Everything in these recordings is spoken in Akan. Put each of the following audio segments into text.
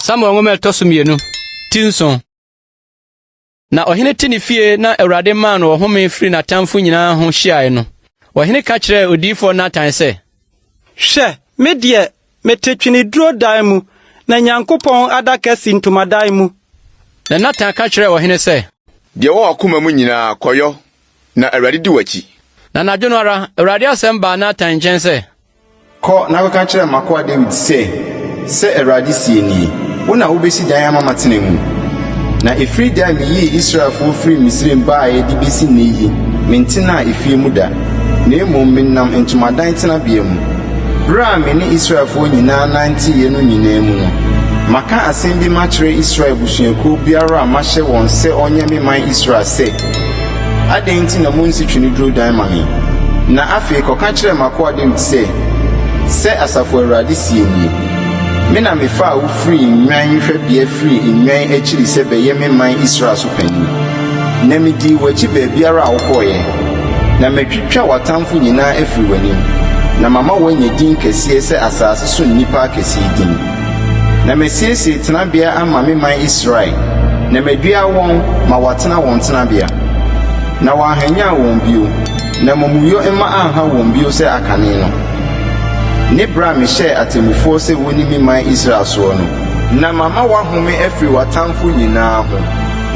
samuel nwoma ɛtɔ so mmienu ti nson na ɔhene te ne fie na awurade maa no ɔhome firi n'atamfo nyinaa ho hyiae no ɔhene ka kyerɛɛ odiyifoɔ natan sɛ hwɛ me deɛ Mete tweneduro dan mu, na Nyankopɔn adaka si ntomadan mu. Na Natan ka kyerɛɛ ɔhene sɛ. Deɛ ɛwɔ w'akoma mu nyinaa, kɔyɔ, na Awurade di w'akyi. Na anadwo no ara, Awurade asɛm baa Natan nkyɛn sɛ. Kɔ na kɔka kyerɛ m'akoa Dawid sɛ, 'Sɛ Awurade seɛ nie, Wo na wobɛsi dan ama matena mu. Na ɛfiri da a meyii Israelfoɔ firii Misraim baeɛ de bɛsi nnɛ yi, mentenaa efie mu da, na mmom menam ntomadan tenabea mu. Berɛ a me ne Israelfoɔ nyinaa nanteeɛ no nyinaa mu no, maka asɛm bi makyerɛ Israel abusuakuo biara a mahyɛ wɔn sɛ wɔnyɛ me man Israel sɛ, Adɛn nti na monnsi tweneduro dan ma me? Na afei kɔka kyerɛ m'akoa Dawid sɛ, 'Sɛ Asafo Awurade seɛ nie, Me na mefaa wo firii nnwan hwɛbea firii nnwan akyiri sɛ bɛyɛ me man Israel so panin, na medii w'akyi baabiara a wokɔeɛ. Na mɛtwitwa w'atamfo nyinaa afiri w'anim, na mama woanya din kɛseɛ sɛ asase so nnipa akɛseɛ din. Na masiesie tenabea ama me man Israel, na madua wɔn ma wɔatena wɔn tenabea. Na wɔanhwanyan wɔn bio, na amumuyɔ mma anha wɔn bio sɛ akane no, ne berɛ a mehyɛɛ atemmufoɔ sɛ wɔnni me man Israel soɔ no. Na mama woahome afiri w'atamfo nyinaa ho.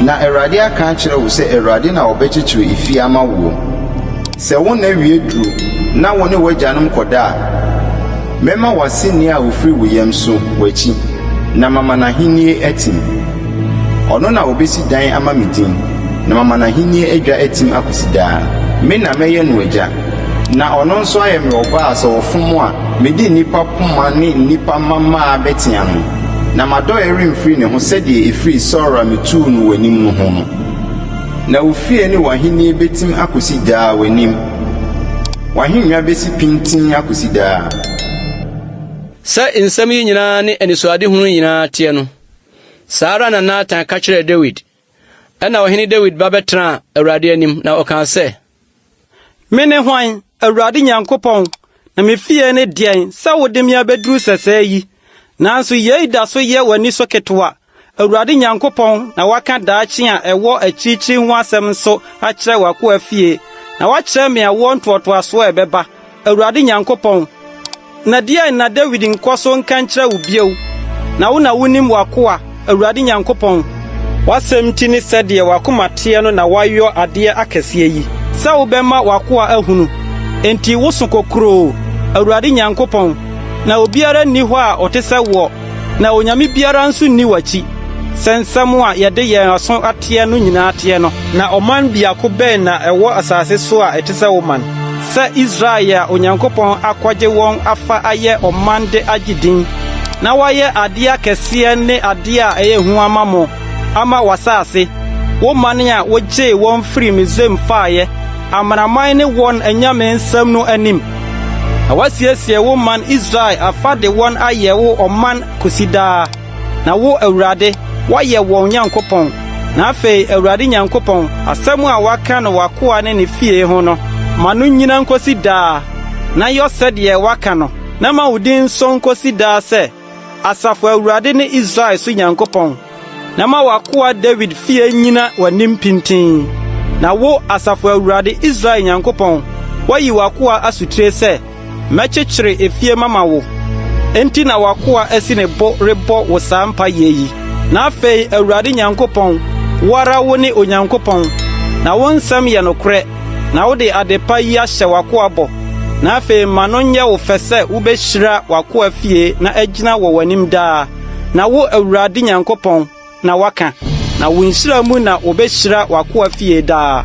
Na Awurade aka akyerɛ wo sɛ Awurade na ɔbɛkyekyere efie ama woɔ. Sɛ wo nna wie duru na wo ne w'agyanom kɔda a, mɛma w'aseni a ɔfiri wo yam so w'akyi, na mama n'ahennie atim. Ɔno na ɔbɛsi dan ama me din, na mama n'ahennie adwa atim akɔsi daa. Me na mɛyɛ no agya, na ɔno nso ayɛ me ɔba a sɛ ɔfom a, mede nnipa poma ne nnipa mmammaa bɛtea no. Na m'adɔeɛ remfiri ne ho sɛdeɛ ɛfirii Saulo a metuu no w'anim no ho no. Na wo fie ne w'ahennie bɛtim akɔsi daa w'anim, w'ahennwa bɛsi pintinn akɔsi daa. Sɛ nsɛm yi nyinaa ne anisoadehunu yi nyinaa teɛ no, saa ara na Natan ka kyerɛɛ Dawid Ɛnna Ɔhene Dawid ba bɛtenaa Awurade anim, na ɔkaa sɛ. Mene hwan, Awurade Nyankopɔn, na me fie ne deɛn sɛ wode me abɛduru sɛsɛɛ yi? Nanso yei da so yɛ w'ani so ketewa. Awurade Nyankopɔn na waka daakye a ɛwɔ akyirikyiri ho asɛm nso akyerɛ w'akoa fie, na wakyerɛ me awoɔ ntoatoasoɔ a ɛbɛba, Awurade Nyankopɔn, na deɛn na Dawid nkɔ so nka nkyerɛ wo bio? Na wo na wonim w'akoa, Awurade Nyankopɔn. W'asɛm nti ne sɛdeɛ w'akoma teɛ no na woayɔ adeɛ akɛseɛ yi, sɛ wobɛma w'akoa ahunu. Enti woso kokuroo, Awurade Nyankopɔn, na obiara nni hɔ a ɔte sɛ woɔ. Na onyame biara nso nni w'akyi, sɛ nsɛm a yɛde yɛn aso ateɛ no nyinaa teɛ no. Na ɔman biako bɛn na ɛwɔ asase so a ɛte sɛ wo man, sɛ Israel a Onyankopɔn akɔgye wɔn afa ayɛ ɔman de agye din, na wayɛ adeɛ akɛseɛ ne adeɛ a ɛyɛ hu ama mo, ama w'asase, wo man a wogyee wɔn firii Misraim faeɛ? amanaman ne wɔn anyame nsɛm no anim, na woasiesie wo man Israel afa de wɔn ayɛ wo ɔman kosi daa. Na wo, Awurade, woayɛ wɔn Nyankopɔn. Na afei, Awurade Nyankopɔn, asɛm a woaka no w'akoa ne ne fie ho no, ma no nnyina nkosi daa, na yɔ sɛdeɛ woaka no, na ma wo din nso nkosi daa sɛ, Asafo Awurade ne Israel so Nyankopɔn, na ma w'akoa Dawid fie nnyina w'anim pintinn. Na wo, Asafo Awurade, Israel Nyankopɔn, woayi w'akoa asotire sɛ, 'Mɛkyekyere efie mama wo. Enti na w'akoa asi ne bo rebɔ wo saa mpaeɛ yi. Na afei, Awurade Nyankopɔn, wo ara wone Onyankopɔn, na wo nsɛm yɛ nokorɛ. na wode adepa yi ahyɛ w'akoa bɔ, na afei ma no nyɛ wo fɛ sɛ wubehyira w'akoa fie na agyina wɔ w'anim daa, na wo Awurade Nyankopɔn na woaka, na wo nhyira mu na wobehyira w'akoa fie daa.